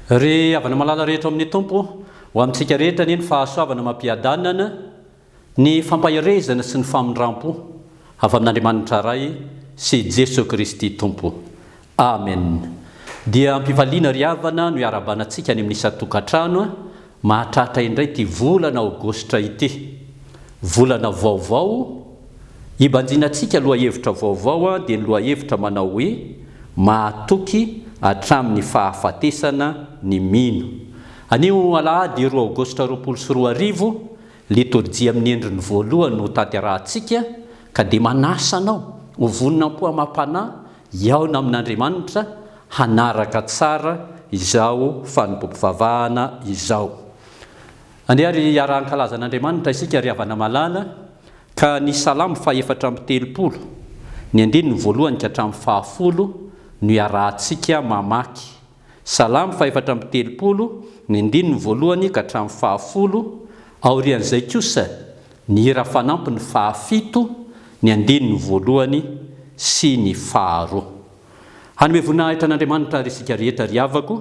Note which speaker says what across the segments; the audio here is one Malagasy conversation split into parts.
Speaker 1: Ry havana malala rehetra ao amin'ny Tompo, ho amintsika rehetra anie ny fahasoavana amam-piadanana Ny fampaherezana sy ny famindrampo avy amin'Andriamanitra Ray sy Jeso Kristy Tompo. Amen. Dia ampivaliana ry havana no iarahabanantsika any amin'ny isan-tokantrano mahatratra indray ity volana aogositra ity. Volana vaovao, ibanjinantsika lohahevitra vaovao dia ny lohahevitra manao hoe Mahatoky hatramin'ny fahafatesana ny mino. Anio alahady roa aogositra roapolo sy roa arivo Litorjia amin'ny endriny voalohany no tanterahantsika, ka dia manasa anao ho vonona am-po-amam-panahy hihaona amin'Andriamanitra hanaraka tsara izao fanompoam-pivavahana izao. Andeha àry hiara-hankalaza an'Andriamanitra isika ry havana malala, ka ny Salamo fahefatra amby telopolo, ny andininy voalohany ka hatramin'ny fahafolo no iarahantsika mamaky. Salamo fahefatra amby telopolo, ny andininy voalohany ka hatramin'ny fahafolo, aorian'izay kosa ny hira fanampiny fahafito, ny andininy voalohany sy ny faharoa. Hanome voninahitra an'Andriamanitra àry isika rehetra, ry havako.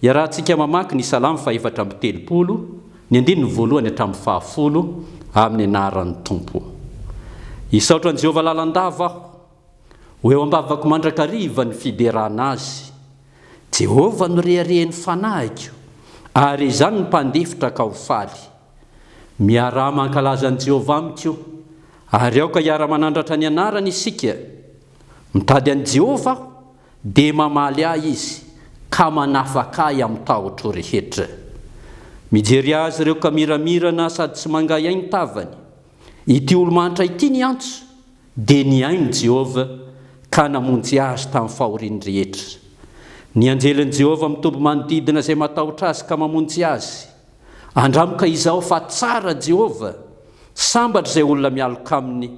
Speaker 1: Iarahantsika mamaky ny Salamo fahefatra amby telopolo, ny andininy voalohany hatramin'ny fahafolo, amin'ny anaran'ny Tompo. Hisaotra an'i Jehovah lalandava aho. Ho eo am-bavako mandrakariva ny fiderana azy. Jehovah no reharehan'ny fanahiko, ary izany no mpandefitra ka ho faly. Miaraha mankalaza an'i Jehovah amiko, ary aoka hiara-manandratra ny anarany isika. Mitady an'i Jehovah aho, dia mamaly ahy izy, ka manafaka ahy amin'ny tahotro rehetra. Mijery azy ireo ka miramirana sady tsy mangahiahy ny tavany. Ity olo-mahantra ity niantso, Dia nihaino i Jehovah ka namonjy azy tamin'ny fahoriany rehetra. Ny anjelin'i Jehovah mitoby manodidina izay matahotra azy ka mamonjy azy. Andramoka izao fa tsara Jehovah, sambatra izay olona mialoka aminy.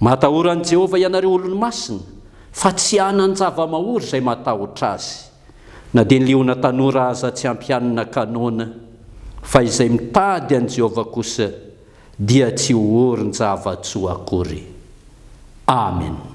Speaker 1: Matahora an'i Jehovah ianareo olony masina, fa tsy hanan-javamahory izay matahotra azy. Na dia ny liona tanora aza tsy ampihanina kanôna, fa izay mitady an'i Jehovah kosa dia tsy horon-java-tsoa akory. Amena.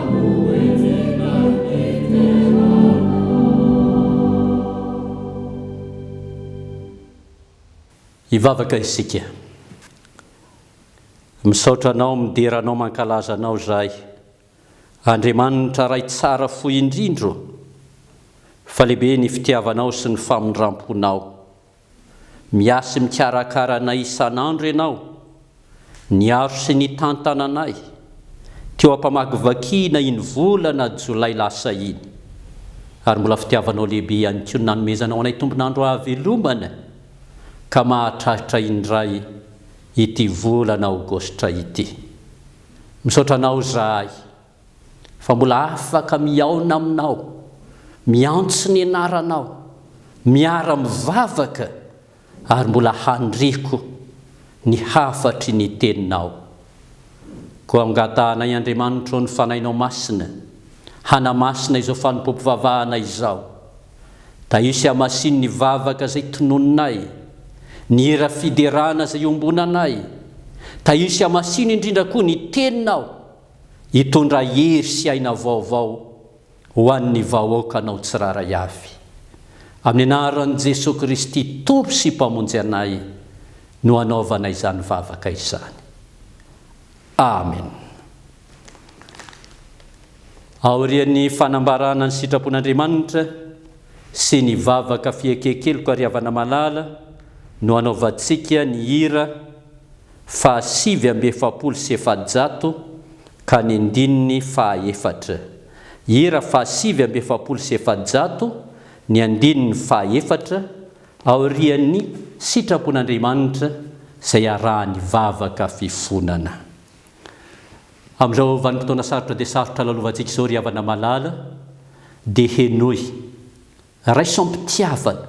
Speaker 1: Hivavaka isika. Misaotra Anao midera Anao mankalaza Anao izahay Andriamanitra Ray tsara fo indrindra ô! Fa lehibe ny fitiavanao sy ny famindramponao Miahy sy mikarakara anay isan'andro Ianao, niaro sy nitantana anay teo am-pamakivakiana iny volana jolay lasa iny, ary mbola fitiavanao lehibe ihany koa ny nanomezanao anay tombon'andro hahavelomana ka mahatratra indray ity volana aogositra ity. Misaotra Anao izahay. fa mbola afaka mihaona aminao, miantso ny anaranao, miara mivavaka ary mbola handriko ny hafatry ny teninao. Koa angatahanay Andriamanitra ô ny Fanahinao Masina hanamasina izao fanompoam-pivavahana izao, da hisy hamasino ny vavaka izay tononinay, ny hira fiderana izay iombonanay, da hisy hamasino indrindra koa ny teninao, hitondra hery sy aina vaovao ho an'ny vahoakanao tsirairay avy. Amin'ny anaran'i Jesoa Kristy Tompo sy Mpamonjy anay no anaovana izany vavaka izany. Amen. Aorian'ny fanambarana ny sitrapon'Andriamanitra sy ny vavaka fieken-keloka ry havana malala no anaovantsika ny hira, fahasivy amby efapolo sy efajato ka ny andininy fahaefatra. Hira fahasivy amby efapolo sy efajato, ny andininy fahaefatra, aorian'ny sitrapon'Andriamanitra izay arahan'ny vavaka fifonana. Amin'izao vanim-potoana sarotra dia sarotra lalovantsika izao ry havana malala dia henoy. Raisam-pitiavana,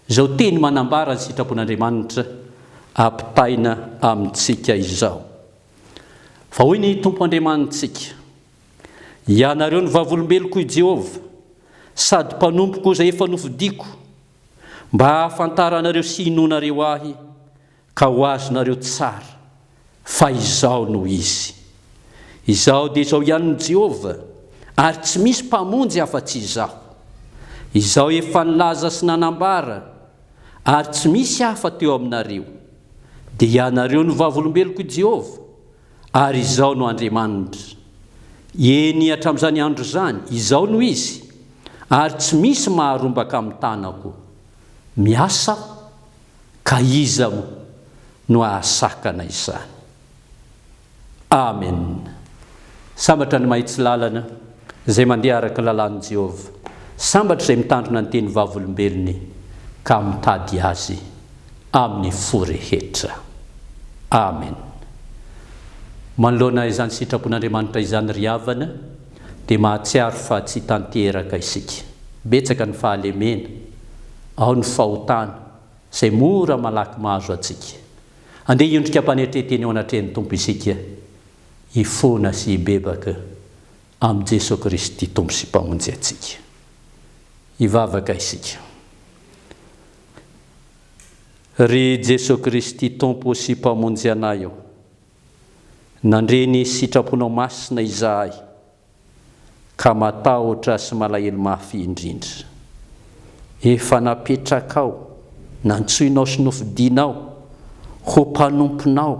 Speaker 1: izao teny manambara ny sitrapon'Andriamanitra ampitaina amintsika izao. Fa hoy ny Tompo Andriamanitsika, Ianareo no vavolombeloko, hoy Jehovah, sady mpanompoko izay efa nofidiko, mba hahafantaranareo sy hinoanareo ahy, Ka ho azonareo tsara fa izao no izy, Izaho dia izao ihany no Jehovah, ary tsy misy mpamonjy afa-tsy Izaho. Izaho efa nilaza sy nanambara, ary tsy misy hafa teo aminareo. Dia ianareo no vavolombelok'i Jehovah, ary Izaho no Andriamanitra. Eny, hatramin'izany andro izany, izao no izy, ary tsy misy maharombaka amin'ny tanako. Miasa aho. Ka iza moa no ahasakana izany? Amen! Sambatra ny mahitsy lalana, izay mandeha araka ny lalàn'i Jehovah. Sambatra izay mitandrina ny teny Vavolombelony ka mitady azy amin'ny fo rehetra. Amen! Manoloana izany sitrapon'Andriamanitra izany ry havana, dia mahatsiaro fa tsy tanteraka isika. Betsaka ny fahalemena. Ao ny fahotana, izay mora malaky mahazo antsika. Andeha hiondrika am-panetren-tena eo anatrehan'ny Tompo isika, hifona sy hibebaka amin'i Jesoa Kristy Tompo sy Mpamonjy antsika. Hivavaka isika. Ry Jesoa Kristy Tompo sy Mpamonjy anay ô, nandre ny sitraponao masina izahay. ka matahotra sy malahelo mafy indrindra. Efa napetrakao, nantsoinao sy nofidinao ho mpanomponao,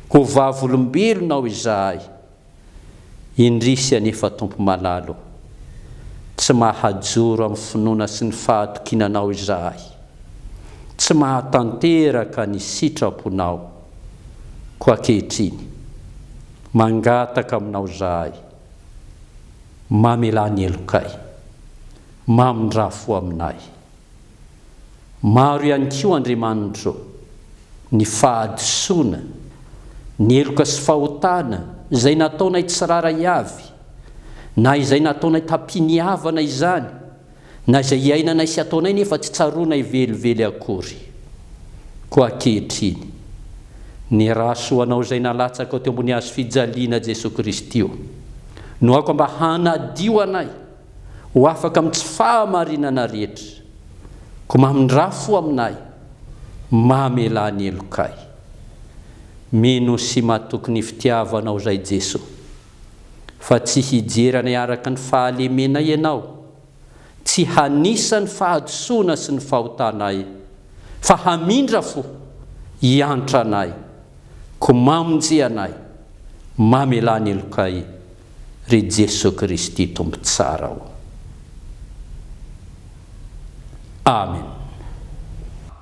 Speaker 1: ho vavolombelonao izahay. Indrisy anefa Tompo malalo, tsy mahajoro amin'ny finoana sy ny fahatokiana Anao izahay. Tsy mahatanteraka ny sitraponao. Koa ankehitriny. Mangataka aminao zahay, mamelà ny helokay, mamindrà fo aminay. Maro ihany koa, Andriamanitro, ny fahadisoana, ny heloka sy fahotana izay nataonay tsirara avy, na izay nataonay tampiniavana izany, Na izay iainanay sy ataonay nefa tsy tsaroanay velively akory. Koa ankehitriny, ny ra soa anao izay nalatsako teo ambony hazo fijaliana Jesoa Kristy o, nohaoko mba hanadio anay ho afaka amin'ny tsy fahamarinana rehetra. Koa mamindrà fo aminay, mamelà ny helokay. Mino sy matoky ny fitiavanao izay Jesoa. fa tsy hijery anay araka ny fahalemenay Ianao, tsy hanisa ny fahadisoana sy ny fahotanay, fa hamindra fo, hiantra anay, koa mamonjy anay, mamelà ny helokay, ry Jesoa Kristy Tompo tsara ô. Amen.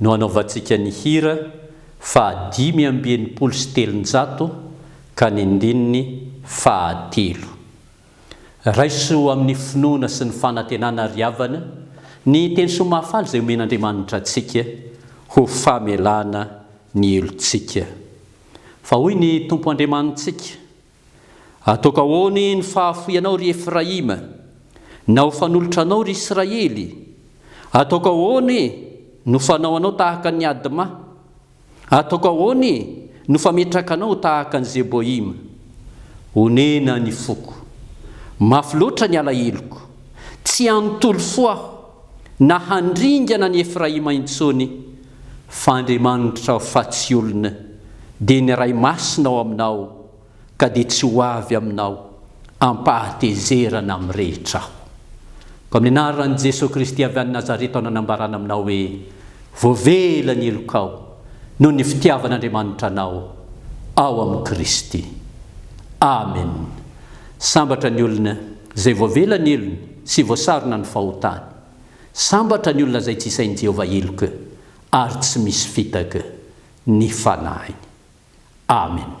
Speaker 1: no anaovantsika ny hira fahadimy amby enimpolo sy telonjato ka ny ndininy fahatelo. Raiso amin'ny finoana sy ny fanantenana ry havana ny teny soa mahafaly izay omen'Andriamanitra antsika ho famelana ny helotsika. Fa hoy ny Tompo Andriamanitsika. Ataoko ahoany ny fahafoianao, ry Efraima? Na ho fanolotra anao, ry Israely? Ataoko ahoany no fanao anao tahaka an' i Adma? Ataoko ahoany no fametraka anao tahaka an'i Zeboima? Onena ny foko. Mafy loatra ny alaheloko. Tsy hanontolo fo aho, na handringana an' i Efraima intsony, Fa Andriamanitra aho fa tsy olona, dia ny Ray Masina ao aminao, ka dia tsy ho avy aminao ampahatezerana amin'ny rehetra aho. Ko amin'ny anaran'i Jesoa Kristy avy any Nazareta aho no anambarana aminao hoe, voavela ny helokao noho ny fitiavan'Andriamanitra anao ao amin'i Kristy. Amen. Sambatra ny olona izay voavela ny helony sy voasarona ny fahotany. Sambatra ny olona izay tsy isain'i Jehovah heloka ary tsy misy fitaka ny fanahiny. Amena.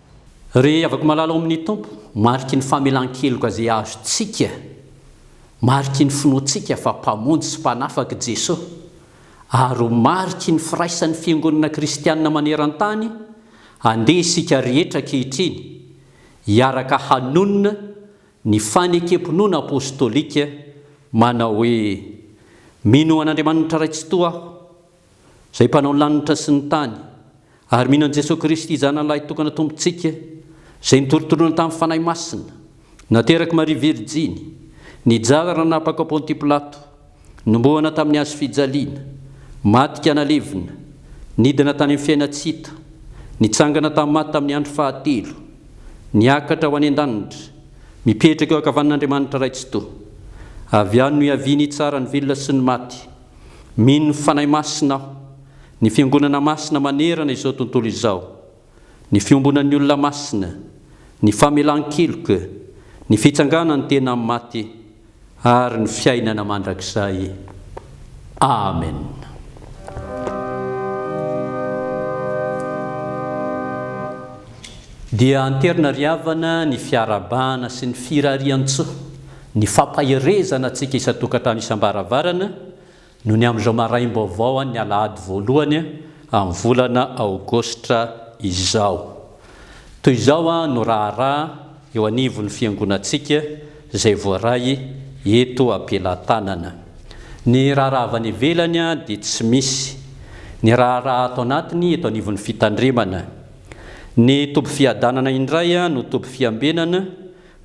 Speaker 1: Ry havako malala ao amin' ny Tompo, mariky ny famelan-keloka izay azontsika, mariky ny finoantsika fa Mpamonjy sy Mpanafaka i Jesoa, ary ho mariky ny firaisan'ny fiangonana kristianina maneran-tany, andeha isika rehetra ankehitriny hiaraka hanonona ny fanekem-pinoana apôstôlika manao hoe, Mino an' Andriamanitra Ray Tsitoha aho, Izay mpanao ny lanitra sy ny tany, ary mino an'i Jesoa Kristy Zanany Lahitokana Tompontsika, Izay nitoritoriana tamin'ny Fanahy Masina, naterak'i Maria Virjiny, nijara nanapaka ao Ponty Pilato, nomboana tamin'ny hazo fijaliana, maty ka nalevina, nidina tany amin'ny fiaina tsy hita, nitsangana tamin'ny maty tamin'ny andro fahatelo, niakatra ho any an-danitra, mipetraka eo ankavanan'Andriamanitra Ray Tsitoha. Avy any no hiaviany hitsara ny velona sy ny maty. Mino Fanahy Masina aho. Ny Fiangonana Masina manerana izao tontolo izao, ny fiombonan'ny olona masina, ny famelan-keloka, ny fitsanganan'ny tena amin'ny maty, ary ny fiainana mandrakizay. Amena. Dia anterina ry havana ny fiarahabana sy ny firariantsoa. Ny fampaherezana antsika isan-tokantrano isam-baravarana no ny amin'izao maraim-baovao an'ny alahady voalohany amin'ny volana aogositra izao. Toy izao no raharaha eo anivon'ny fiangonantsika izay voaray eto am-pelatanana. Ny raharaha avy any ivelany dia tsy misy. Ny raharaha ato anatiny eto anivon'ny fitandremana. Ny toby fiadanana indray no toby fiambenana,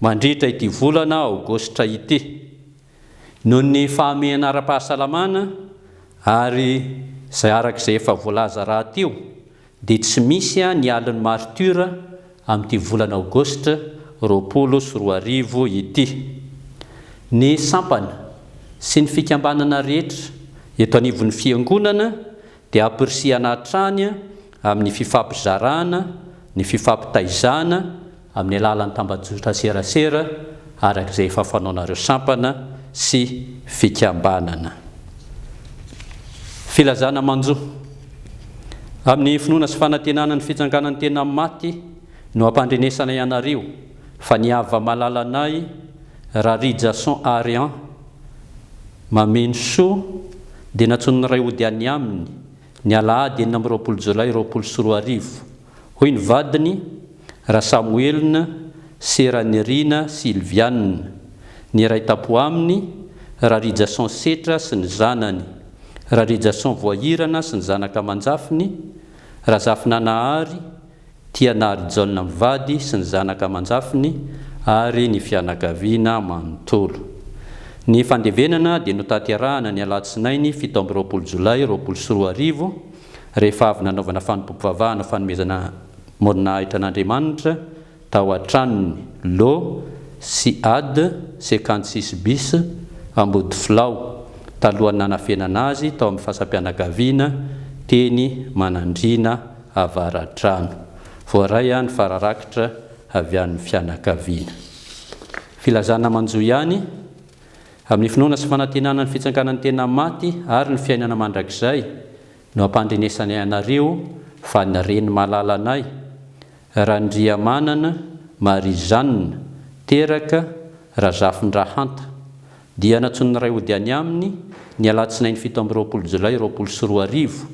Speaker 1: Mandritra ity volana aogositra ity, noho ny fahamehana ara-pahasalamana ary izay araka izay efa voalaza rahateo dia tsy misy ny alin'ny martiora amin'ity volana aogositra roapolo sy roa arivo ity. Ny sampana sy ny fikambanana rehetra eto anivon'ny fiangonana dia hampirisihana hatrany amin'ny fifampizarana ny fifampitaizana amin'ny alalan'ny tambajotran-tserasera araka izay efa fanaonareo sampana sy fikambanana. Filazana manjo. Amin'ny finoana sy fanantenana ny fitsanganan'ny tena maty no ampandrenesanay anareo fa ny hava-malalanay Rarijason Arian, Mameno soa, dia nantsoin'ny ray hody any aminy, ny alahady enina amby roapolo jolay roapolo sy roa arivo. Hoy ny vadiny, Rasamoelina sy Ranirina Sylviane, ny iray tapo aminy, Rarijason Setra sy ny zanany, Rarijason Voahirana sy ny zanaka aman-jafiny, Razafinanahary, Tia Nahary Jaona mivady sy ny zanaka aman-jafiny ary ny fianakaviana manontolo. Ny fandevenana dia notanterahana ny alatsinainy fito amby roapolo jolay roapolo sy roa arivo, rehefa avy nanaovana fanompoam-pivavahana fanomezana moronahitra an'Andriamanitra tao an-tranony, lo, Siad, cinquante six bis, Ambodifilao, talohan'ny nanafenana azy tao amin'ny fasam-pianakaviana teny Manandriana Avaradrano. Voaray any fa rarakitra avy an'ny fianakaviana. Filazana manjo ihany, amin'ny finoana sy fanantenana ny fitsanganan'ny tena maty ary ny fiainana mandrakizay no ampandrenesanay anareo fa ny reny malalanay, Randriamanana Marie Jeanne, teraka Razafindrahanta, Dia nantsoin'ny Ray hody any aminy, ny alatsinainy fito amby roapolo jolay roapolo sy roa arivo,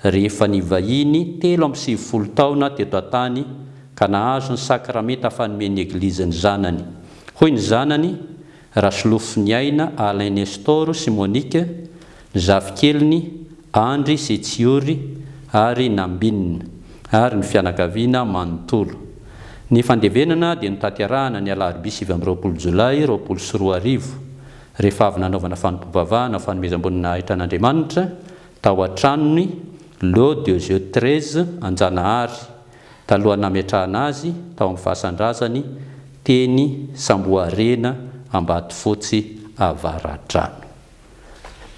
Speaker 1: rehefa nivahiny telo amby sivifolo taona teto an-tany ka nahazo ny sakramenta fanomen'ny Eglizy ny zanany. Hoy ny zanany, Rasolofon'iaina Alain Nestor sy Monique, zafikeliny Andry sy Tsiory ary Nambinina, ary ny fianakaviana manontolo. Ny fandevenana dia notanterahana ny alarobia sivy amby roapolo jolay roapolo sy roa arivo, rehefa avy nanaovana fanompoam-bavahana fanomezam-boninahitra an'Andriamanitra tao an-tranony Lot de Dieu treize Anjanahary, talohan'ny nametrahana azy tao amin'ny fasan-drazany teny Samboharena Ambatofotsy Avaradrano.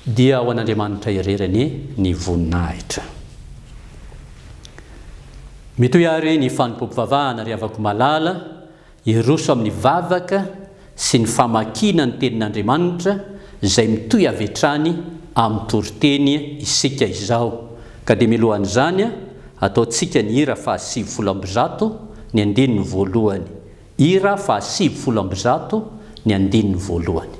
Speaker 1: dia ho an'Andriamanitra irery anie ny voninahitra. Mitohy àry ny fanompoam-pivavahana, ry havako malala, hiroso amin'ny vavaka sy ny famakiana ny Tenin'Andriamanitra izay mitohy avy hatrany amin'ny toriteny isika izao. Ka dia mialohan'izany, ataontsika ny hira fahasivifolo amby zato, ny andininy voalohany. Hira faha sivy folo amby zato ny andininy voalohany.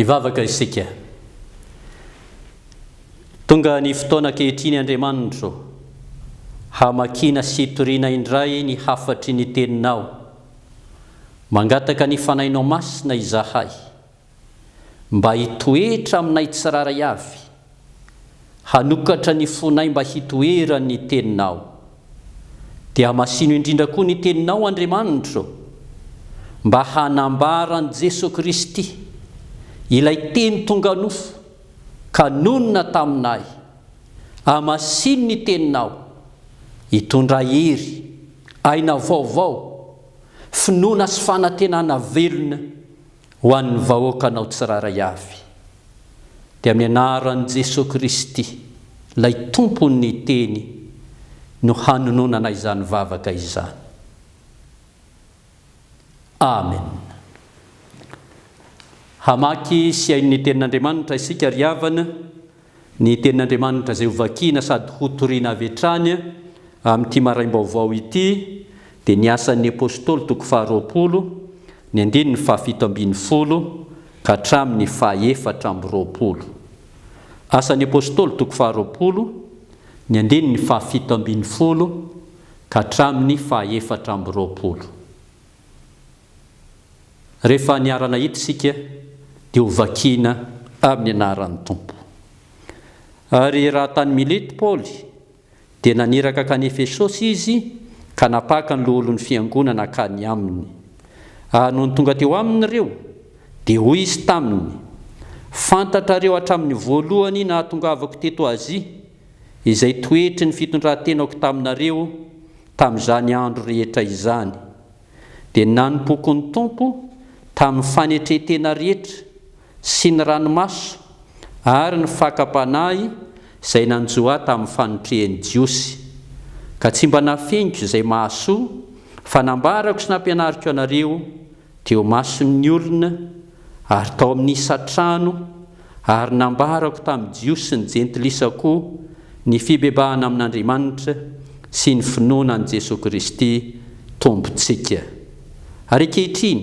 Speaker 1: Hivavaka isika. Tonga ny fotoana ankehitriny Andriamanitro, hamakiana sy hitoriana indray ny hafatry ny Teninao. Mangataka ny Fanahinao Masina izahay mba hitoetra aminay tsirairay avy, hanokatra ny fonay mba hitoeran'ny Teninao. Dia masino indrindra koa ny Teninao, Andriamanitro, mba hanambara an'i Jesoa Kristy, ilay Teny tonga nofo ka nonina taminay. Amasino ny Teninao hitondra hery Aina vaovao, finoana sy fanantenana velona ho an'ny vahoakanao tsirairay avy. Dia amin'ny anaran'i Jesoa Kristy, ilay Tompon'ny Teny, no hanononana izany vavaka izany. Amen. Hamaky sy hihaino ny Tenin'Andriamanitra isika ry havana, Ny Tenin'Andriamanitra izay hovakina sady hotorina avy hatrany amin'ity maraim-baovao ity dia ny Asan'ny Apostoly toko faharoapolo, ny andininy fahafito ambin'ny folo ka hatramin'ny fahefatra amby roapolo. Asan'ny Apostoly toko faharoapolo, ny andininy fahafito ambin'ny folo ka hatramin'ny fahefatra amby roapolo. Rehefa niara-nahita isika dia ho vakiana amin'ny anaran'ny Tompo. Ary raha tany Milety Paoly, dia naniraka hankany Efesosy izy ka napaka ny loholon'ny fiangonana hankany aminy. Ary nony tonga teo aminy ireo, dia hoy izy taminy, Fantatrareo hatramin'ny voalohany nahatongavako teto Azia, izay toetry ny fitondran-tenako taminareo, Tamin'izany andro rehetra izany, dia nanompoako ny Tompo tamin'ny fanetren-tena rehetra sy ny ranomaso ary ny fakam-panahy izay nanjo ahy tamin'ny fanotrehan'ny Jiosy, ka tsy mba nafeniko izay mahasoa, fa nambarako sy nampianariko anareo teo mason'ny olona ary tao amin'ny isan-trano, ary nambarako tamin'ny Jiosy sy ny Jentilisa koa ny fibebahana amin'Andriamanitra sy ny finoana an'i Jesoa Kristy Tompontsika. Ary ankehitriny,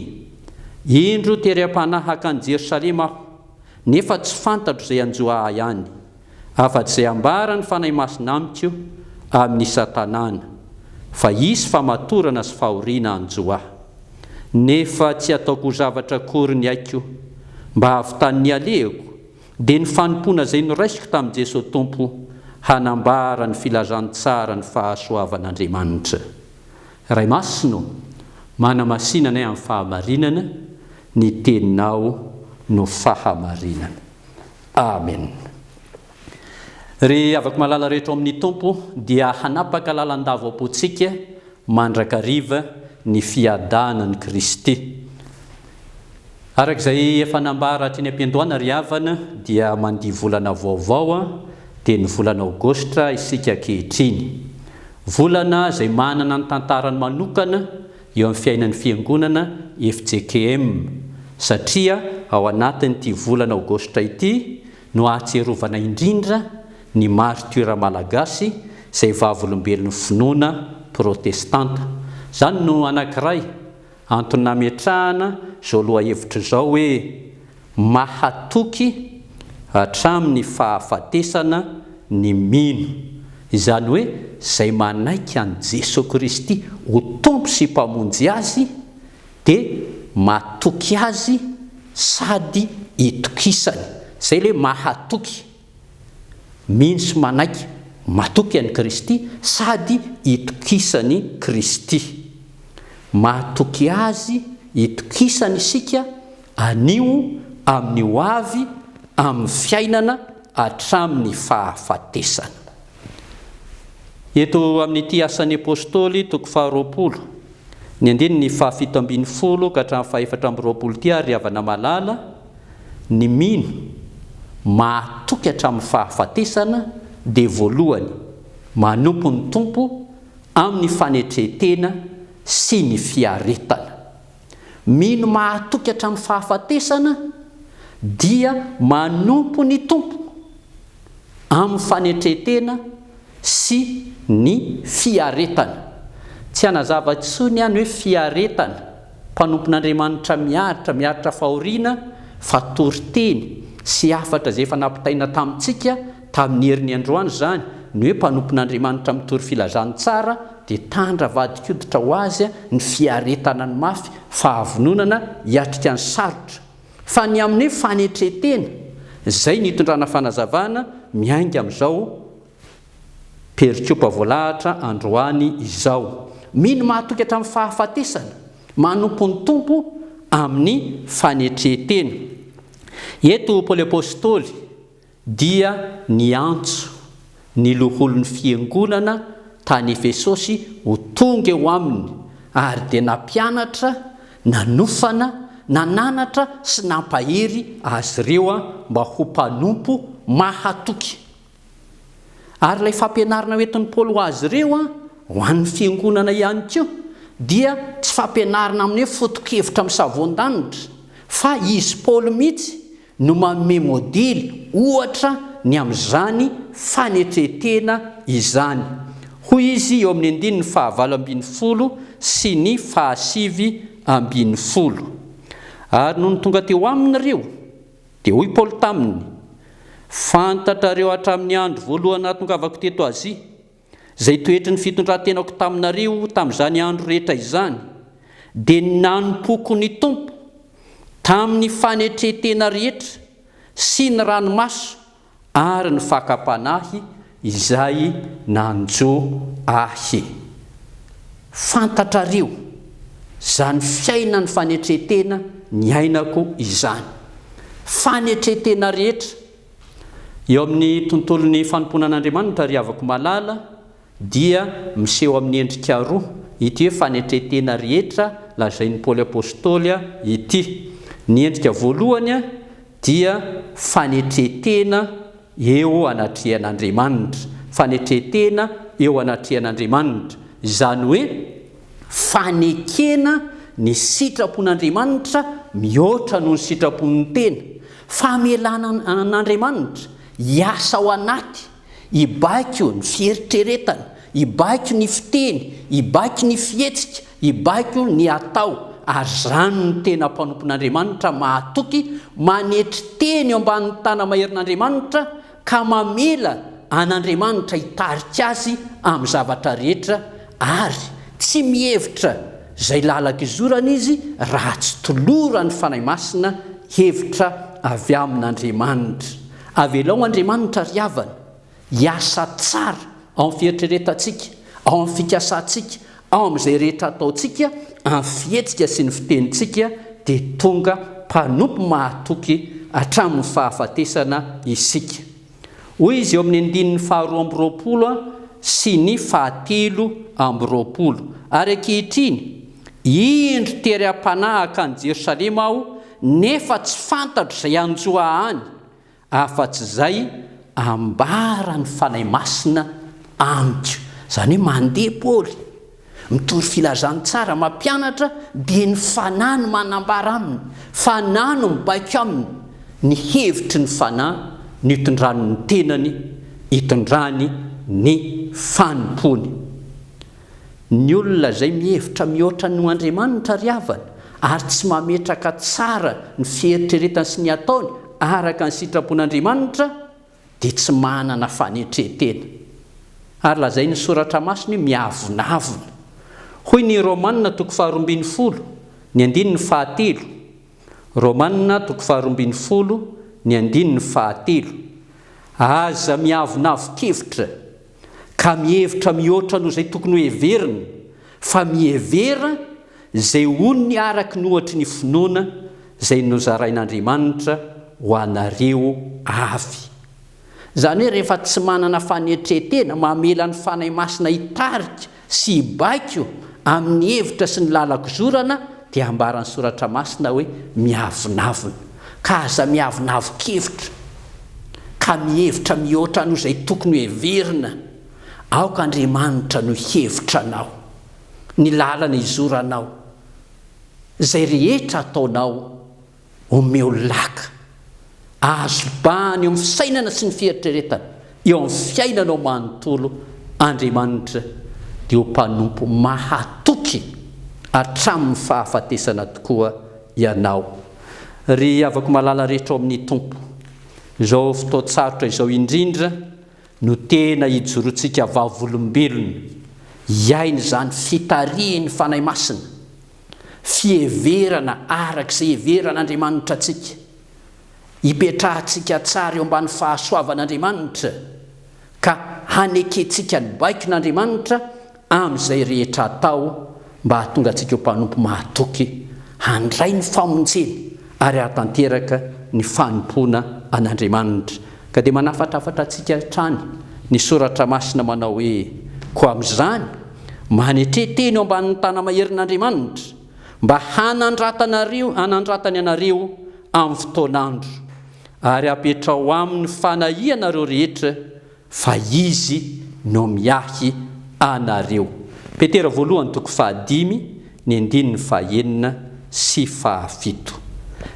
Speaker 1: indro tery am-panahaka any Jerosalema aho, nefa tsy fantatro izay hanjo ahy any. afa-tsy ambaran'ny Fanahy Masina amiko amin'ny Satanana fa hisy famatorana sy fahoriana hanjo ahy. Nefa tsy ataoko ho zavatra akory ny aiko mba hahavitan'ny nialehako, dia ny fanompoana izay noraisiko tamin'i Jesoa Tompo hanambara ny filazantsara ny fahasoavan'Andriamanitra. Ray Masina ô, manamasina anay amin'ny fahamarinana, ny Teninao no fahamarinana. Amen. Ry havako malala rehetra ao amin'ny Tompo, dia hanapaka lalandava ao am-pontsika mandrakariva ny fiadanan'i Kristy. Araka izay efa nambara teny am-piandohana ry havana, dia mandia volana vaovao, dia ny volana Aogositra, isika ankehitriny. Volana izay manana ny tantarany manokana, eo amin'ny fiainan'ny Fiangonana fjkm, satria ao anatin'ity volana Aogositra ity no ahatsiarovana indrindra ny maritiora malagasy izay vavolombelon'ny finoana protestanta. Izany no anankiray antony nametrahana izao lohahevitra izao hoe, Mahatoky hatramin'ny fahafatesana ny mino, izany hoe izay manaiky an'i Jesoa Kristy ho Tompo sy Mpamonjy azy dia matoky Azy sady itokisany. Izay ilay mahatoky. Mino sy manaiky matoky an'i Kristy sady itokisan'i Kristy. Mahatoky Azy itokisana isika anio, amin'ny ho avy, amin'ny fiainana hatramin'ny fahafatesana. Eto amin'ity Asan'ny Apostoly, toko faharoapolo, ny andininy fahafito ambin'ny folo ka hatramin'ny fahefatra amby roapolo ity ary ry havana malala, Ny mino mahatoky hatramin'ny fahafatesana dia voalohany manompo ny Tompo amin'ny fanetren-tena sy ny fiaretana. Mino mahatoky hatramin'ny fahafatesana dia manompo ny Tompo. amin'ny fanetren-tena sy ny fiaretana. Tsy hanazava intsony aho ny hoe fiaretana, mpanompon'Andriamanitra miaritra, miaritra fahoriana, fa toriteny sy hafatra izay efa nampitaina tamintsika tamin'ny herin'ny androany izany, ny hoe mpanompon'Andriamanitra mitory filazantsara dia tandra vadin-koditra ho azy ny fiaretana ny mafy, fahavononana hiatrika ny sarotra. Fa ny amin'ny hoe fanetren-tena, izay no itondrana fanazavana miainga amin'izao perikopa voalahatra androany izao. Mino mahatoky hatramin'ny fahafatesana, manompo ny Tompo amin'ny fanetren-tena. Eto Paoly Apostoly. dia niantso ny loholon'ny fiangonana tany Efesosy ho tonga eo aminy, ary dia nampianatra, nanofana, nananatra sy nampahery azy ireo mba ho mpanompo mahatoky. Ary ilay fampianarana hoentin'i Paoly ho azy ireo ho an'ny fiangonana ihany koa dia tsy fampianarana amin'ny hoe foto-kevitra amin'ny savoan-danitra, fa izy Paoly mihitsy no manome modely ohatra ny amin'izany fanetren-tena izany, hoy izy eo amin'ny andininy fahavalo ambin'ny folo sy ny fahasivy ambin'ny folo. Ary nony tonga teo aminy ireo, dia hoy Paoly taminy, Fantatrareo hatramin'ny andro voalohany nahatongavako teto Azia, Izay toetry ny fitondran-tenako taminareo tamin'izany andro rehetra izany, dia ny nanompoako ny Tompo tamin'ny fanetren-tena rehetra sy ny ranomaso ary ny fakam-panahy izay nanjo ahy. Fantatrareo izany fiainan'ny fanetren-tena niainako izany. Fanetren-tena rehetra. Eo amin'ny tontolon'ny fanompoana an'Andriamanitra, ry havako malala, dia miseho amin'ny endrika roa ity hoe fanetren-tena rehetra lazain'i Paoly Apostoly ity. Ny endrika voalohany dia fanetren-tena eo anatrehan'Andriamanitra, fanetren-tena eo anatrehan'Andriamanitra, izany hoe fanekena ny sitrapon'Andriamanitra mihoatra noho ny sitrapon'ny tena, Famelana an'Andriamanitra hiasa ao anaty, hibaiko ny fieritreretana, hibaiko ny fiteny, hibaiko ny fihetsika, hibaiko ny atao, ary izany no tena mpanompon'Andriamanitra mahatoky, manetry teny eo ambanin'ny tana-maherin'Andriamanitra, ka mamela an' Andriamanitra hitarika azy amin'ny zavatra rehetra ary tsy mihevitra izay lalaka izorany izy raha tsy toloran'ny Fanahy Masina hevitra avy amin' Andriamanitra. Avelao Andriamanitra ry havana hiasa tsara ao amin'ny fieritreretantsika, ao amin'ny fikasantsika, Ao amin'izay rehetra ataontsika amin'ny fihetsika sy ny fitenintsika dia tonga mpanompo mahatoky hatramin'ny fahafatesana isika. Hoy izy eo amin'ny andininy faharoa amby roapolo sy ny fahatelo amby roapolo, Ary ankehitriny, indro tery am-panahy hankany Jerosalema aho, nefa tsy fantatro izay hanjo ahy any, Afa-tsy izay, ambara ny Fanahy Masina amiko. Izany hoe mandeha Paoly, mitory filazantsara, mampianatra, dia ny Fanahy no manambara aminy, Fanahy no mibaiko aminy ny hevitry ny Fanahy nitondrany ny tenany, hitondrany ny fanompoany. Ny olona izay mihevitra mihoatra noho Andriamanitra ry havana ary tsy mametraka tsara ny fieritreretany sy ny ataony araka ny sitrapon'Andriamanitra dia tsy manana fanetren-tena. Ary lazain'ny Soratra Masina io miavonavona. Hoy ny Romana toko faharoa ambin'ny folo, ny andininy fahatelo, Romana toko faharoa ambin'ny folo, ny andininy fahatelo, Aza miavonavon-kevitra. ka mihevitra mihoatra noho izay tokony hoheveriny, fa mihevera izay onony araky ny ohatry ny finoana izay nozarain'Andriamanitra ho anareo avy. Izany hoe rehefa tsy manana fanetren-tena mamela ny Fanahy Masina hitarika sy hibaiko amin'ny hevitra sy ny lalan-kizorana dia ambaran'ny Soratra Masina hoe miavonavona, ka aza miavonavon-kevitra ka mihevitra mihoatra noho izay tokony hoheverina, aoka Andriamanitra no hihevitra anao, ny lalana izoranao, izay rehetra ataonao. Omeo laka. Azo bahana eo amin'ny fisainana sy ny fieritreretana, eo amin'ny fiainanao manontolo Andriamanitra dia ho mpanompo mahatoky hatramin'ny fahafatesana tokoa ianao. Ry havako malala rehetra ao amin'ny Tompo, izao fotoan-tsarotra izao indrindra no tena hijoroantsika vavolombelona hiaina izany fitarihin'ny Fanahy Masina, fiheverana araka izay iheveran'Andriamanitra antsika, hipetrahantsika tsara eo ambany fahasoavan'Andriamanitra, ka hanekentsika ny baikon'Andriamanitra amin'izay rehetra atao mba hahatonga antsika ho mpanompo mahatoky handray ny famonjena ary hahatanteraka ny fanompoana an'Andriamanitra. Ka dia manafatrafatra antsika hatrany ny Soratra Masina manao hoe, Koa amin'izany, manetre tena eo ambanin'ny tana-maherin'Andriamanitra, mba hanandratanareo hanandratany anareo amin'ny fotoan'andro, ary hapetraho aminy fanahianareo rehetra, Fa Izy no miahy anareo. Petera voalohany toko fahadimy ny andininy fahenina sy fahafito.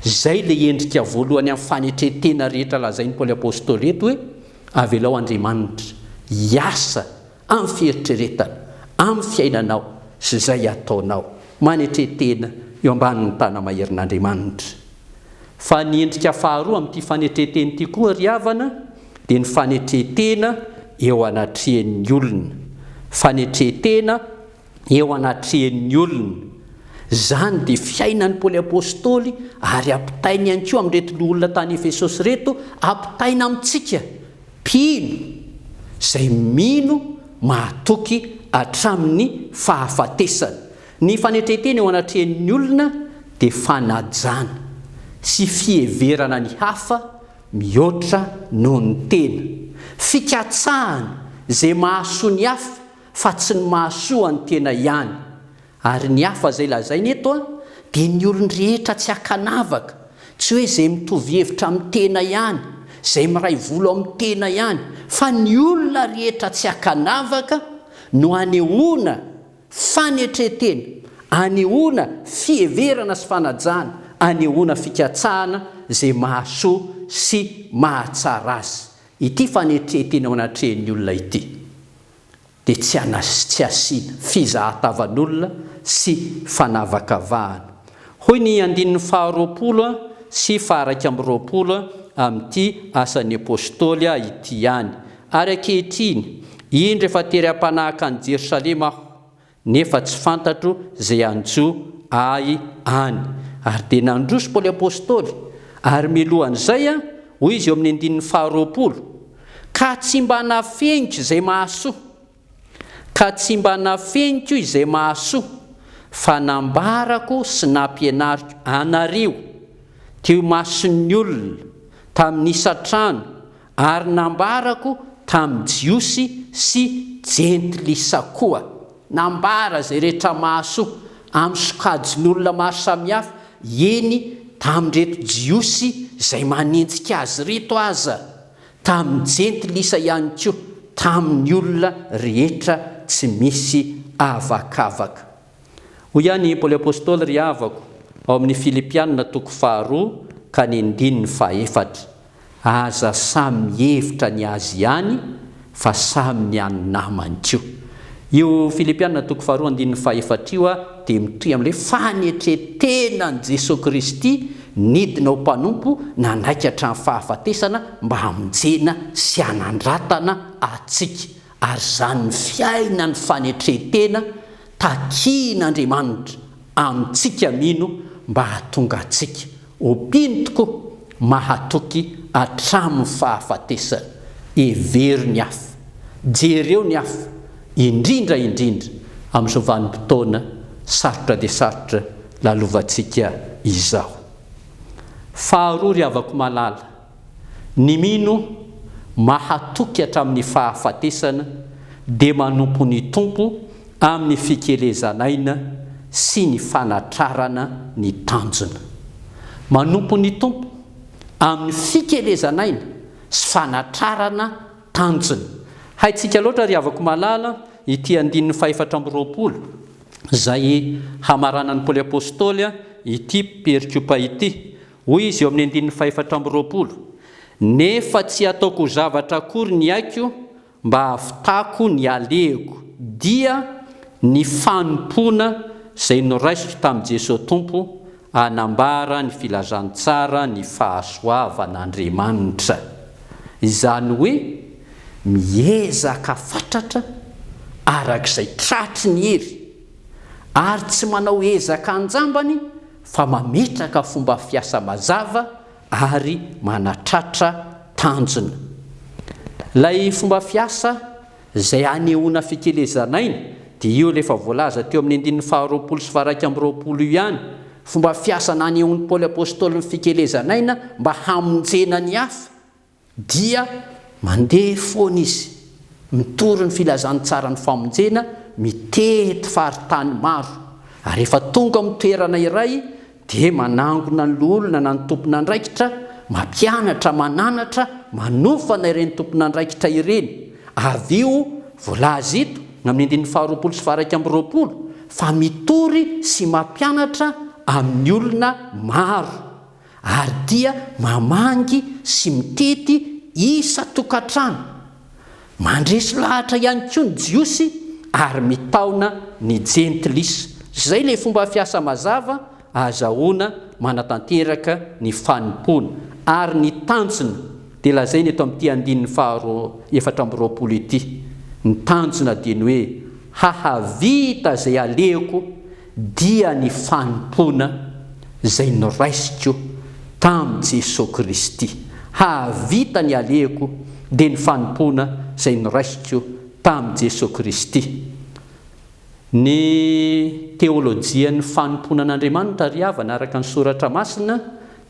Speaker 1: Izay ilay endrika voalohany amin'ny fanetren-tena rehetra lazain'i Paoly Apôstôly eto hoe, Avelao Andriamanitra hiasa amin'ny fieritreretana, amin'ny fiainanao sy izay ataonao. Manetren-tena eo ambanin'ny tana-maherin'Andriamanitra. Fa ny endrika faharoa amin'ity fanetren-teny ity koa ry havana dia ny fanetren-tena eo anatrehan'ny olona. Fanetren-tena eo anatrehan'ny olona. Izany dia fiainan'i Paoly Apostoly ary ampitainy ihany koa amin'ireto loholona tany Efesosy ireto, ampitaina amintsika mpino izay mino mahatoky hatramin'ny fahafatesana. Ny fanetren-tena eo anatrehan'ny olona dia fanajana sy fiheverana ny hafa mihoatra noho ny tena, fikatsahana izay mahasoa ny hafa fa tsy ny mahasoa an'ny tena ihany. Ary ny hafa izay lazaina eto dia ny olon-drehetra tsy ankanavaka, tsy hoe izay mitovy hevitra amin'ny tena ihany, izay miray volo amin'ny tena ihany, fa ny olona rehetra tsy ankanavaka no anehoana Fanetren-tena, anehoana fiheverana sy fanajana, anehoana fikatsahana izay mahasoa sy mahatsara azy. Ity fanetren-tena eo anatrehan'ny olona ity dia tsy anasy tsy asiana, fizahatavan'olona sy fanavakavahana. Hoy ny andininy faharoapolo sy faharaika amby roapolo amin'ity Asan'ny Apôstôly ity ihany, Ary ankehitriny, indro efa tery am-panahaka any Jerosalema aho, nefa tsy fantatro izay hanjo ahy any. Ary dia nandroso Paoly Apostoly, ary milohan'izay, hoy izy eo amin'ny andininy faharoapolo, Ka tsy mba nafeniko izay mahasoa, ka tsy mba nafeniko izay mahasoa, fa nambarako sy nampianariko anareo teo imason'ny olona, tamin'ny isan-trano, Ary nambarako tamin'ny Jiosy sy Jentilisa koa, nambara izay rehetra mahasoa, amin'ny sokajin'olona maro samihafa, eny, tamin'ireto Jiosy izay manenjika azy ireto aza, tamin'ny Jentilisa ihany koa, tamin'ny olona rehetra tsy misy avakavaka. Hoy ihany i Paoly Apostoly, Ry havako ao amin'ny Filipiana, toko faharoa ka ny andininy fahefatra, Aza samy mihevitra ny azy ihany fa samy ny an'ny namany koa. Io Filipiana toko faharoa andininy fahefatra io dia mitohy amin'ilay fanetren-tenan'i Jesoa Kristy nidina ho mpanompo nanaiky hatramin'ny fahafatesana mba hamonjena sy hanandratana antsika. Ary izany ny fiainan'ny fanetren-tena takian'Andriamanitra amintsika mino mba hahatonga antsika ho mpino tokoa mahatoky hatramin'ny fahafatesana. Hevero ny afo, jereo ny afo, indrindra indrindra amin'izao vanim-potoana sarotra dia sarotra lalovantsika izao. Faharoa ry havako malala, Ny mino mahatoky hatramin'ny fahafatesana dia manompo ny Tompo amin'ny fikelezan'aina sy ny fanatrarana ny tanjona. Manompo ny Tompo amin'ny fikelezan'aina sy fanatrarana tanjona. Haintsika loatra ry havako malala ity andininy fahefatra amby roapolo izay hamaranan'i Paoly Apostoly ity perikopa ity, Hoy izy eo amin'ny andininy fahefatra amby roapolo, Nefa tsy ataoko ho zavatra akory ny aiko mba hahavitako ny alehiko, dia ny fanompoana izay noraisiko tamin'i Jesoa Tompo hanambara ny filazantsara ny fahasoavan'Andriamanitra. Izany hoe, miezaka fatratra araka izay tratry ny hery, ary tsy manao ezaka an-jambany fa mametraka fomba fiasa mazava ary manatratra tanjona. Ilay fomba fiasa izay anehoana fikelezan'aina dia io ilay efa voalaza teo amin'ny andininy faharoapolo sy faharaika amby roapolo io ihany, fomba fiasa nanehoan'i Paoly Apostoly ny fikelezan'aina mba hamonjena ny hafa. Dia mandeha foana izy, mitory ny filazantsaran'ny famonjena, mitety faritany maro, ary rehefa tonga amin'ny toerana iray dia manangona ny loholona na ny tompon'andraikitra, mampianatra, mananatra, manofana ireny tompon'andraikitra ireny. Avy io, voalaza eto, ny amin'ny andininy faharoapolo sy faharaika amby roapolo, fa mitory sy mampianatra amin'ny olona maro. ary dia mamangy sy mitety isan-tokantrano, mandresy lahatra ihany koa ny Jiosy ary mitaona ny Jentilisa. Izay ilay fomba fiasa mazava ahazahoana manatanteraka ny fanompoana, ary ny tanjona dia lazaina eto amin'ity andininy faharoa efatra amby roapolo ity. Ny tanjona dia ny hoe, Hahavita izay alehoko dia ny fanompoana izay noraisiko tamin'i Jesoa Kristy, hahavita ny alehako dia ny fanompoana izay noraisiko tamin'i Jesoa Kristy. Ny teolojian'ny fanompoana an'Andriamanitra ry havana araka ny Soratra Masina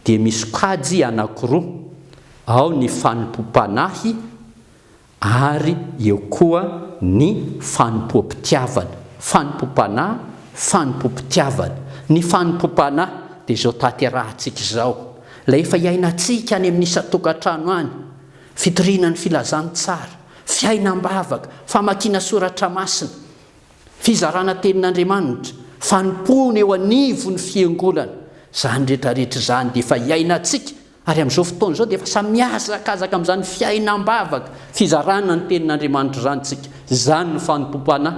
Speaker 1: dia misokajy anankiroa, ao ny fanompoam-panahy, ary eo koa ny fanompoam-pitiavana, fanompoam-panahy, fanompoam-pitiavana. Ny fanompoam-panahy dia izao tanterahantsika izao, ilay efa iainantsika any amin'ny isan-tokantrano any, fitoriana ny filazantsara, fiainam-bavaka, famakiana soratra masina, fizarana tenin'Andriamanitra, fanompoana eo anivon'ny fiangonana, izany rehetra rehetra izany dia efa iainantsika Ary amin'izao fotoana izao dia efa samy mihazakazaka amin'izany fiainam-bavaka fizarana ny Tenin'Andriamanitra izany isika. Izany no fanompoam-panahy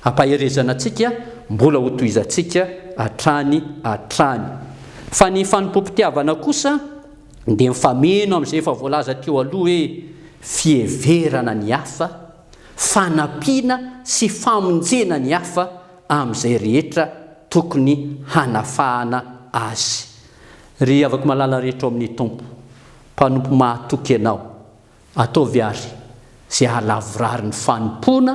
Speaker 1: ampaherezana antsika mbola hotohizantsika hatrany hatrany. Fa ny fanompoam-pitiavana kosa dia mifameno amin'izay efa voalaza teo aloha hoe fiheverana ny hafa, fanampiana sy famonjena ny hafa amin'izay rehetra tokony hanafahana azy. Ry havako malala rehetra ao amin'ny Tompo, mpanompo mahatoky ianao, ataovy àry izay hahalavorary ny fanompoana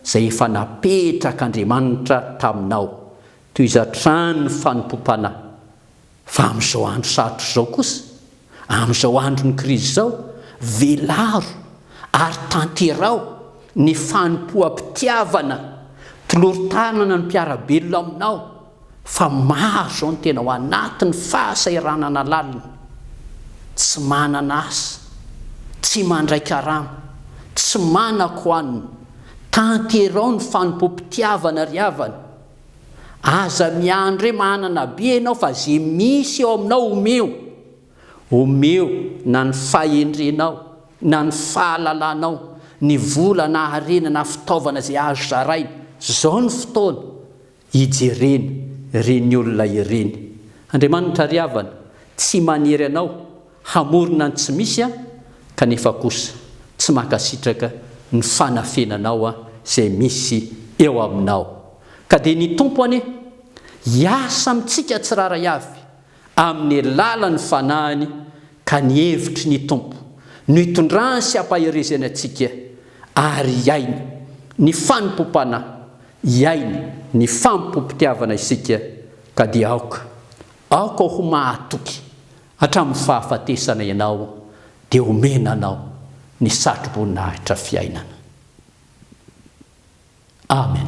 Speaker 1: izay efa napetrak'Andriamanitra taminao, tohizo hatrany ny fanompoam-panahy. Fa amin'izao andro sarotra izao kosa, amin'izao andron'ny krizy izao, velaro ary tanteraho ny fanompoam-pitiavana, tolory tanana ny mpiara-belona aminao, fa maro izao ny tena ao anatin'ny fahasahiranana lalina, tsy manana asa, tsy mandray karama, tsy manan-ko hanina, tanterao ny fanompoam-pitiavana ry havana, aza miandry hoe manana be ianao fa ze misy eo aminao omeo, omeo na ny fahendrenao na ny fahalalanao, ny vola na harena na fitaovana izay azo zaraina, zao ny fotoana, Ijerena ireny olona ireny. Andriamanitra ry havana, tsy manery anao hamorona ny tsy misy aho, kanefa kosa tsy mankasitraka ny fanafenanao izay misy eo aminao. Ka dia ny Tompo anie hiasa amintsika tsirairay avy amin'ny alalan'ny Fanahiny ka ny hevitry ny Tompo no itondrany sy ampaherezany antsika ary hiaina ny fanompoam-panahy, hiaina ny fanompoam-pitiavana isika ka dia aoka, aoka ho mahatoky hatramin'ny fahafatesana ianao dia omena anao ny satroboninahitra fiainana. Amen.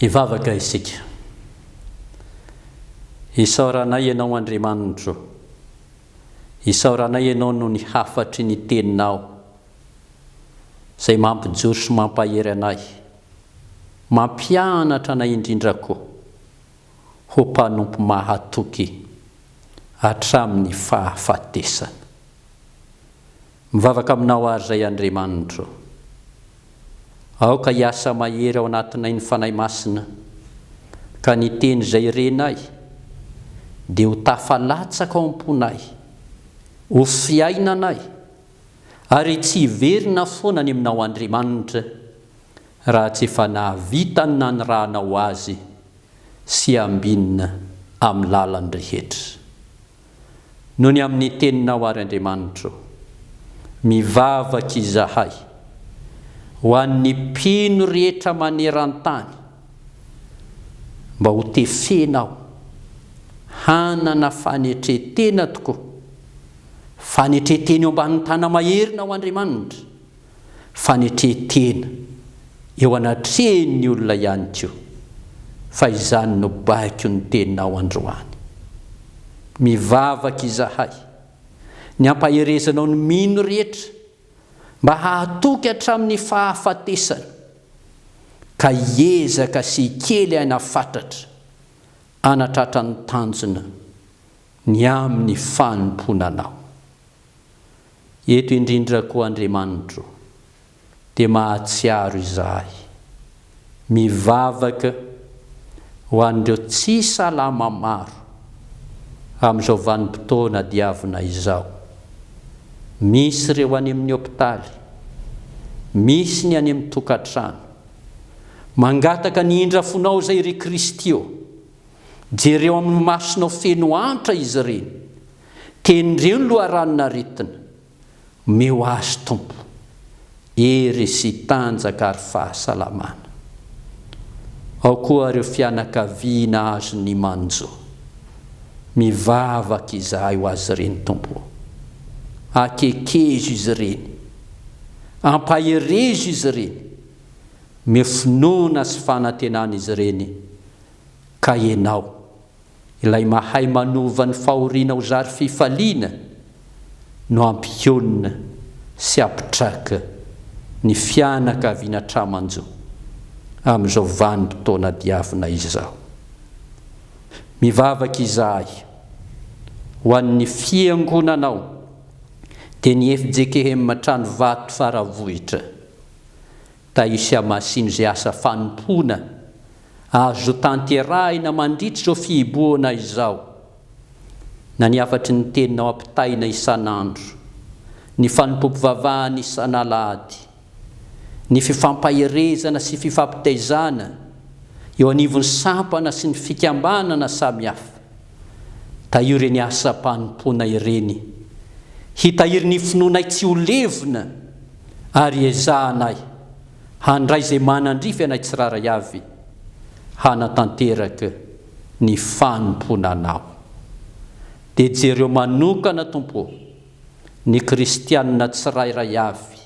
Speaker 1: Hivavaka isika. Isaoranay Ianao Andriamanitro ô. Isaoranay Ianao noho ny hafatry ny Teninao izay mampijoro sy mampahery anay, mampianatra anay indrindra koa ho mpanompo mahatoky hatramin'ny fahafatesana. Mivavaka aminao ary izay Andriamanitro. Aoka hiasa mahery ao anatinay ny Fanahy Masina, ka ny Teny izay renay dia ho tafalatsaka ao am-ponay, ho fiainanay, ary tsy hiverina foana any aminao Andriamanitra raha tsy efa nahavita ny nanirahanao azy sy ambinina amin'ny lalan-drehetra. Nony amin'ny teninao àry Andriamanitro. Mivavaka izahay ho an'ny mpino rehetra maneran-tany mba ho tefenao hanana fanetren-tena tokoa, fanetren-tena eo ambanin'ny tanam-maherinao Andriamanitra, fanetren-tena eo anatrehin'ny olona ihany koa fa izany no baiko ny tenao androany. Mivavaka izahay ny hampaherezanao ny mino rehetra mba hahatoky hatramin'ny fahafatesana ka hiezaka sy hikely aina fatratra hanatratra ny tanjona ny amin'ny fanompoana anao. Eto indrindra koa Andriamanitro dia mahatsiaro izahay mivavaka ho an'ireo tsy salama maro amin'izao vanim-potoana diavina izao. Misy ireo any amin'ny hopitaly, misy ny any amin'ny tokantrano. Mangataka ny indra fonao izay ry Kristy ô! Jereo amin'ny masonao feno antra izy ireny Tenireo ny loharano naretina. Omeo azy Tompo hery sy tanjaka ary fahasalamana. Ao koa ireo fianakaviana azon'ny manjo. Mivavaka izahay ho azy ireny Tompo o. Akekezo izy ireny. Ampaherezo izy ireny. Omeo finoana sy fanantenana izy ireny ka Ianao. Ilay mahay manova ny fahoriana ho zary fifaliana no hampionona sy hampitraka ny fianakaviana tra-manjo amin'izao vanim-potoana diavina izao. Mivavaka izahay ho an'ny Fiangonanao, dia ny fjkm Tranovato Faravohitra. Taisia Masina izay asa fanompoana azo tanterahina mandritra izao fihibohana izao na ny hafatry ny teninao ampitaina isan'andro, ny fanompoam-pivavahana isan'alahady, ny fifampaherezana sy fifampitaizana eo anivon'ny sampana sy ny fikambanana samihafa. Tahio ireny asam-panompoana ireny. Hitahiry ny finoanay tsy ho levona ary ezahanay handray izay manandrify anay tsirairay avy hanatanteraka ny fanompoana Anao. Dia jereo manokana, Tompo ô, ny kristianina tsirairay avy,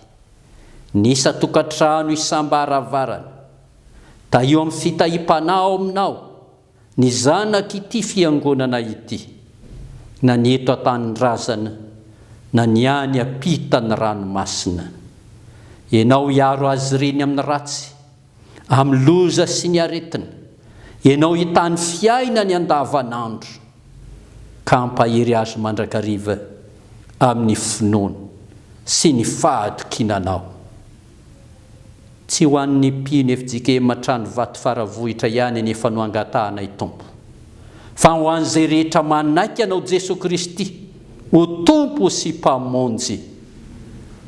Speaker 1: ny isan-tokantrano, isam-baravarana. Tahio amin'ny fitahiam-panahy ao Aminao. Ny zanak'ity fiangonana ity, na ny eto an-tanindrazana, na ny any am-pitan'ny ranomasina. Ianao hiaro azy ireny amin'ny ratsy, amin'ny loza sy ny aretina. Ianao hitany fiainany andavanandro, ka hampahery azy mandrakariva amin'ny finoana sy ny fahatokiana Anao. Tsy ho an'ny mpino fjkm Tranovato Faravohitra ihany anefa no angatahanay Tompo, fa ho an'izay rehetra manaiky Anao Jesoa Kristy ho Tompo sy Mpamonjy.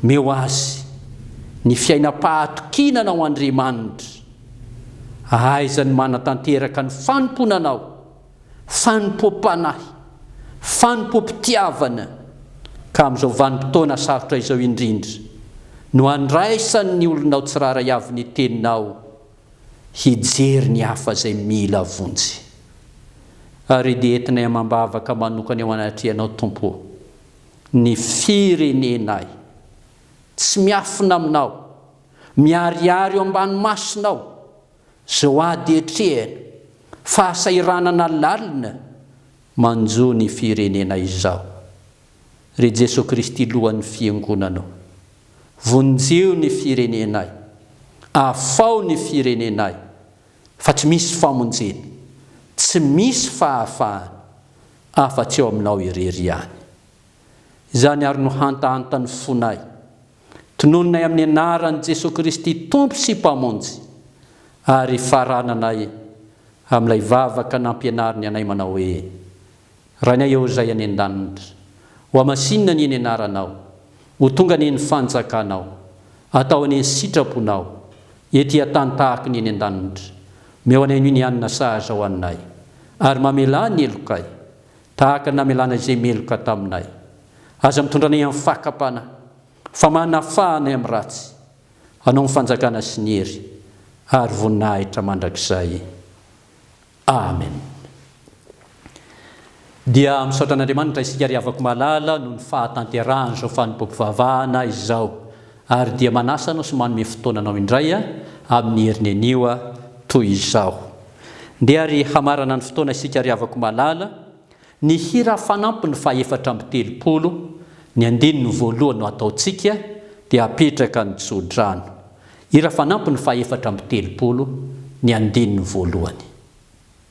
Speaker 1: Meo azy ny fiainam-pahatokiana Anao Andriamanitra, ahaizany manatanteraka ny fanompoana Anao. fanompoam-panahy, fanompoam-pitiavana, ka amin'izao vanim-potoana sarotra izao indrindra no andraisan' ny olonao tsirairay avy ny teninao hijery ny hafa izay mila vonjy. Ary dia entinay amam-bavaka manokana eo anatrehanao, Tompo ô, ny firenenay, tsy miafina aminao, miharihary eo ambany masonao, Zao ady atrehina, fahasahiranana lalina manjo ny firenena izao. Ry Jesoa Kristy Lohan'ny Fiangonana o! Vonjeo ny firenenay, afaho ny firenenay fa tsy misy famonjena, tsy misy fahafahana afa-tsy ao Aminao irery ihany. Izany ary no hantahantan'ny fonay. Tonononay amin'ny anaran'i Jesoa Kristy Tompo sy Mpamonjy ary farananay amin'ilay vavaka nampianariny anay manao hoe, Rainay Eo Izay any An-danitra, ho hamasinina anie ny anaranao, ho tonga anie ny fanjakanao, atao anie ny sitraponao, ety an-tany tahaka ny eny an-danitra, omeo anay anio ny hanina sahaza hohaninay, ary mamelà ny helokay. Tahaka ny namelana izay meloka taminay. Aza mitondra anay amin'ny fakam-panahy, fa manafaha anay amin'ny ratsy. Anao ny fanjakana sy ny hery ary voninahitra mandrakizay. Amen. Dia misaotra an'Andriamanitra isika ry havako malala noho ny fahatanterahan'izao fanompoam-pivavahana izao. ary dia manasa anao sy manome fotoana anao indray amin'ny heriny anio toy izao. Ndeha ary hamarana ny fotoana isika ry havako malala, ny hira fanampiny fahefatra amby telopolo, ny andininy voalohany no ataontsika dia apetraka ny tsodrano. Hira fanampiny fahefatra amby telopolo, ny andininy voalohany.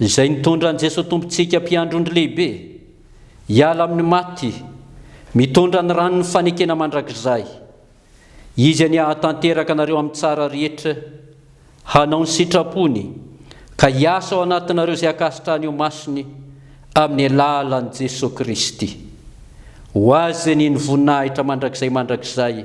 Speaker 1: Izay nitondra an'i Jesoa Tompontsika Mpiandrondry Lehibe hiala amin'ny maty, mitondra ny ran'ny fanekena mandrakizay. Izy anie hahatanteraka anareo amin'ny tsara rehetra, hanao ny sitrapony, ka hiasa ao anatinareo izay ankasitrahany ho masiny amin'ny alalan'i Jesoa Kristy. Ho Azy anie ny voninahitra mandrakizay mandrakizay.